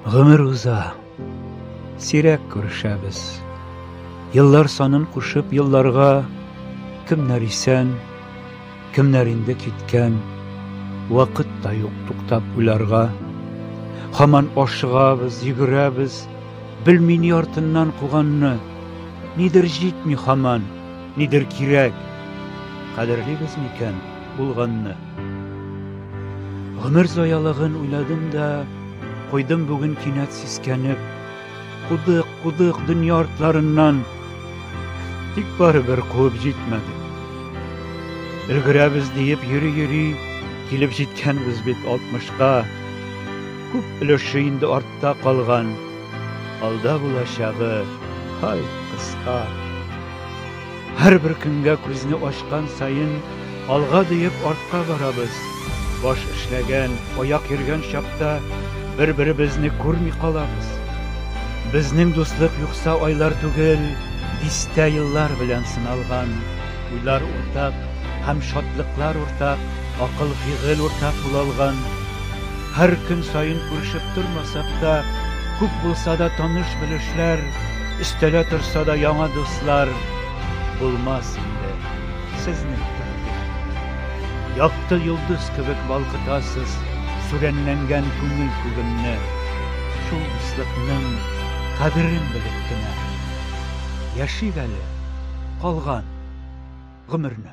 Гомер уза, сирәк күрешәбез. Еллар санын кушып, елларга кемнәр исән, кемнәр инде киткән, вакыт та юк туктап уйларга. Хаман ашыгабыз, йөгерәбез, белми ни артыннан куганны, нидер җитми хаман. Нидер кирәк, кадерлибез микән булганны? Гомер зоялыгын уйладым да, куйдым бүген кинәт сискәнеп. Кудык, кудык дөнья артларыннан, тик барыбер куып җитмәде. Өлгерәбез диеп йөри-йөри, килеп җиткәнбез бит алтмышка. Күп өлеше инде артта калган. Алда булачагы, һай, кыска. Һәрбер көнгә күзне ачкан саен, алга диеп артка барабыз. Баш эшләгән, аяк йөргән чакта бер-беребезне күрми калабыз. Безнең дуслык юкса айлар түгел, дистә еллар белән сыналган. Уйлар уртак һәм шатлыклар уртак, акыл-фигыль уртак була алган. Һәр көн саен күрешеп тормасак та, күп булса да таныш-белешләр, өстәлә торса да яңа дуслар булмас инде. Сезнең күңел. Якты йолдыз кебек балкытасыз сүрәнләнгән күңел күгемне. Шул дуслыкның кадерен белеп кенә яшик әле калган гомерне.